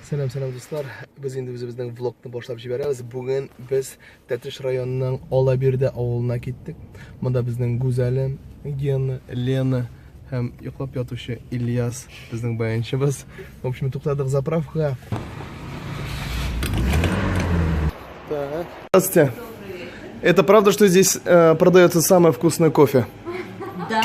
Сәлам, сәлам дуслар. Без инде үзебезнең влогны башлап җибәрәбез. Бүген без Тәтеш районының Алабирдә авылына киттек. Монда безнең Гүзәле, Гена, Лена һәм йоклап ятучы Ильяс безнең баянчыбыз. В общем, туктадык заправка. Так. Здравствуйте. Это правда, что здесь э, продается самое вкусное кофе? Да.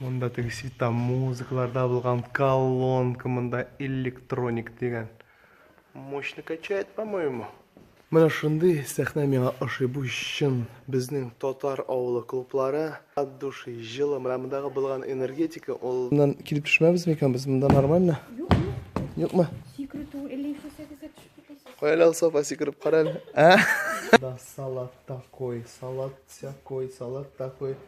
Монда теге светта музыкаларда булган колонка, монда электроник дигән. Мощно качает, по-моему. Менә шундый сәхнә миңа ошый. Бу чын безнең татар авылы клублары. От души, җылы. Менә мондагы булган энергетика ул. Моннан килеп төшмәбез микән без? Монда нормально? Юк, юк. Юкмы? Сикрү түгел, әллә ишесәгез төшеп китәсез. Каяла Сафа сикереп карале. Да салат такой, салат всякой, салат такой.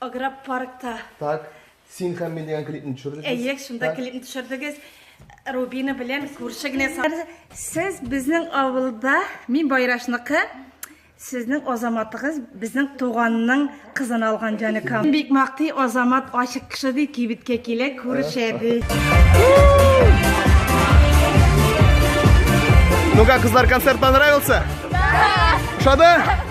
Агропаркта. Так, син һәм мин дигән клипны төшердегез. Әйе, шунда Так. клипны төшердегез. Рубина белән күрше генә са- Сез безнең авылда, мин Байрашныкы, сезнең Азаматыгыз безнең туганның кызын алган җаныкам. Бик мактый Азамат ачык кеше ди, кибеткә килә, күрешә ди. Ну как, кызлар, концерт понравился? Да! Ушады?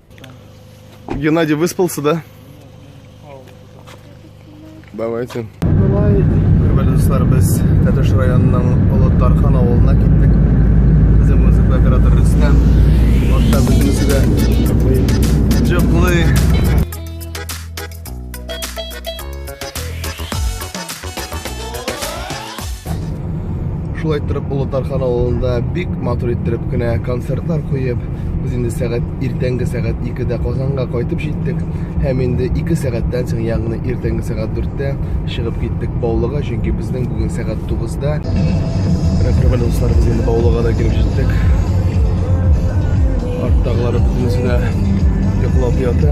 Геннадий выспался, да? Давайте. Давай. Хөрмәтле дуслар, без Тәтеш районының Олы Тархан авылына киттек. Безнең музыка оператор Рөстәм. Артта безнең үзегә. Җыплый. шулай торып Олы Тархан авылында бик матур иттереп кенә концертлар куеп, без инде сәгать иртәнге сәгать 2-дә Казанга кайтып җиттек һәм инде 2 сәгатьтән соң, ягъни иртәнге сәгать 4-тә чыгып киттек Баулыга, чөнки безнең бүген сәгать 9-да Рәфәрбәл дуслар без инде Баулыга да килеп җиттек. Арттагылары бөтенесе дә йоклап ята.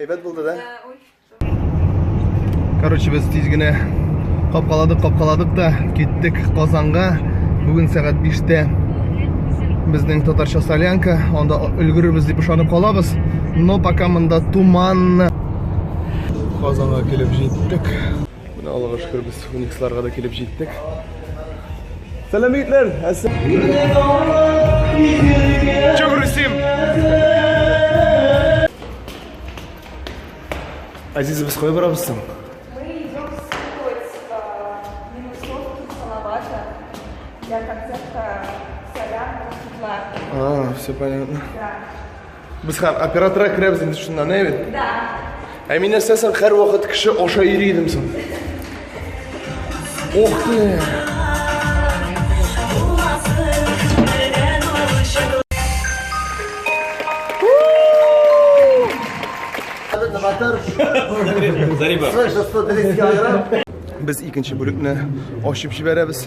Әйбәт булды да? Короче, без тиз генә капкаладык, капкаладык та киттек Казанга. Бүген сәгать 5-тә безнең татарча солянка, анда өлгерербез дип ышанып калабыз. Но пока монда туманны. Казанга килеп җиттек. Менә Аллага шөкер без Униксларга да килеп җиттек. Сәлам егетләр! Чүк Русим! Азиз, без кая барабыз соң? Для концерта «Сорян» Светлана. А, все понятно. Да. Без хәл оператора керәбез инде шунда, не бит? Да. Ә мин нәрсә соң һәр вакыт кеше аша йөри идем соң. Ох ты! Зариба. Слышь, 130 килограмм. Без икенче бүлекне ачып җибәрәбез.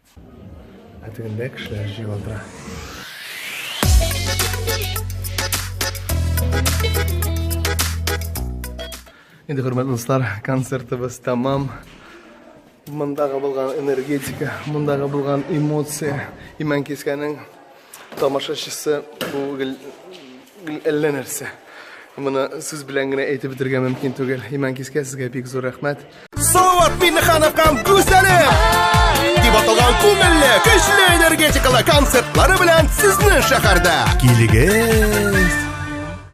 Ә тегендә кешеләр җыела тора. Инде хөрмәтле дуслар, концертыбыз тәмам. Мондагы булган энергетика, мондагы булган эмоция, имән кискәнең Тамашачысы бу гел әллә нәрсә. Моны сүз белән генә әйтеп бетергә мөмкин түгел. Иман Кискә сезгә бик зур рәхмәт. Салават Миннехановкам гүзәле! Дип аталган күңелле, көчле энергетикалы концертлары белән сезнең шәһәрдә. Килегез!